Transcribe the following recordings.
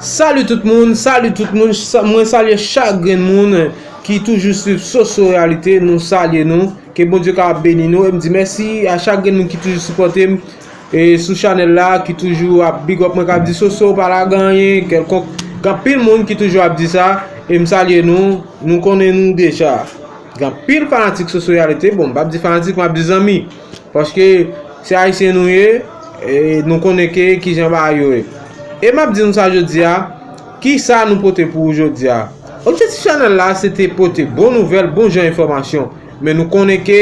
Salut tout moun, salut tout moun, mwen salye chak gren moun ki toujou swiv Soso Reyalite, nou salye nou, ke Bon Dieu ka beni nou, e m di mèsi a chak gren moun ki toujou sipòte m sou chanèl la, ki toujou ap big up mwen, kap di Soso pa lage anyen, kèlkonk, gen pil moun ki toujou ap di sa, e m salye nou, nou konnen nou deja, gen pil fanatik Soso Reyalite, bon m pap di fanatik, m ap di zanmi. Paske se ayisyen nou ye e nou konnen ke kijan bagay yo ye. E map di nou sa jodi a, kisa nou pote pou ou jodi a. Objektif chanèl la se te pote bon nouvèl, bon jan enfòmasyon. Men nou konnen ke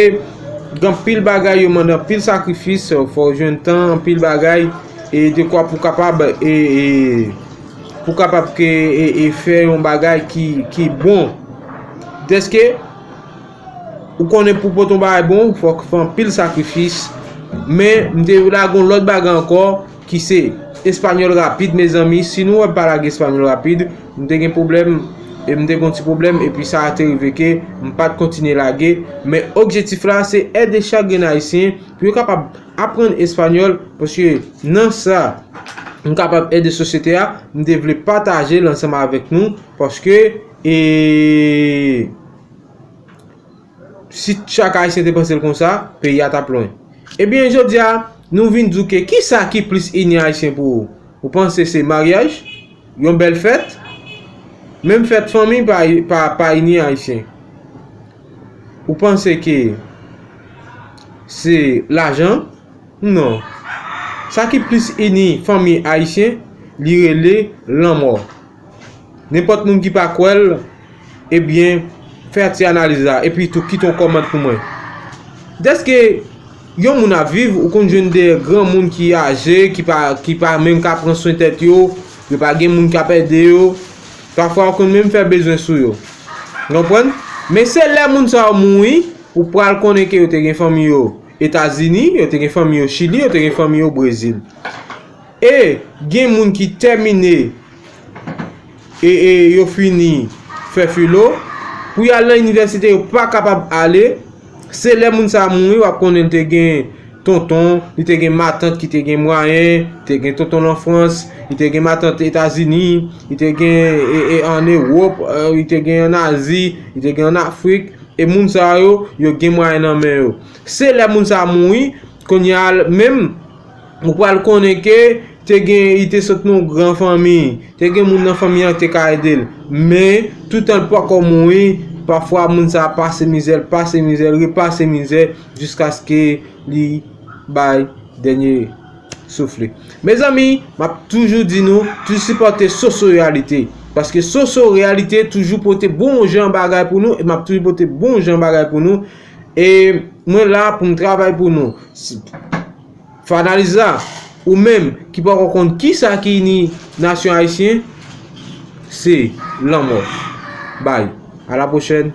gen anpil bagay yo mande anpil sakrifis, fò ou jwenn tan, anpil bagay e dekwa pou kapab e pou kapab ke e fè yon bagay ki bon. Deske. Ou konnen pou pot yon bagay bon, fòk fè anpil sakrifis. Men, m te lage yon lòt bagay ankò, ki se espanyòl rapid mezanmi. Si nou wè m pa lage espanyòl rapid, m te gen pwoblèm, e m te gen yon ti pwoblèm, epi sa te rive ke m pa t kontinye lage. Men, objektif la, se ede chak grenn Ayisyen pou yo kapab aprann espanyòl, paske nan sa m kapab ede sosyete a, m te vle pataje l ansanm avèk nou, paske e. Si chak ayisyen te panse l konsa, peyi a tap lwen. Ebyen jodi a, nou vin di w ke ki sa ki plis ini ayisyen pou ou? Ou panse se maryaj? Yon bèl fèt? Menm fèt fanmi pa ini ayisyen. Ou panse ke se lajan? Non. Sa ki plis ini fanmi ayisyen, li rele lanmò. Nenpòt moun ki pa kwè l, ebyen fè ti analiz la epi tou kite yon kòmant pou mwen. Dèske yon moun ap viv, ou konn jwenn de granmoun ki aje, ki pa menm ka pran swen tèt yo, yo pa gen moun k ap ede yo, pafwa yo konn menm fè bezwen sou yo. Nou konprann? Men se lè moun sa yo mouri, ou pral konnen ke yo te gen fanmi yo Etazini, yo te gen fanmi yo Chili, yo te gen fanmi yo Brezil. E gen moun ki tèmine e e yo fini fè filo, pou y al nan inivèsite yo pa kapab ale, se lè moun sa mouri w ap konnen li te gen tonton, li te gen matant ki te gen mwayen, li te gen tonton l an Frans, li te gen matant Etazini, li te gen e e an Ewop, li te gen an Azi, li te gen an Afrik, e moun sa yo, yo gen mwayen nan men yo. Se lè moun sa mouri, kounye a menm. Ou pral konnen ke te gen li te sot nan yon gran fanmi, te gen moun nan fanmi an ki te ka ede l. Men, toutan l poko mouri, pafwa moun sa a pase mizè, l pase mizè, l repase mizè jiskaske li bay dènye souf li. Mezanmi, m ap toujou di nou, toujou sipòte Soso Reyalite. Paske Soso Reyalite toujou pote bon jan bagay pou nou e m ap toujou pote bon jan bagay pou nou. E mwen la pou m travay pou nou. Fè analiz la, ou menm ki pako konn kisa ki ini nasyon ayisyen se lanmò. Bye, a la pwochèn.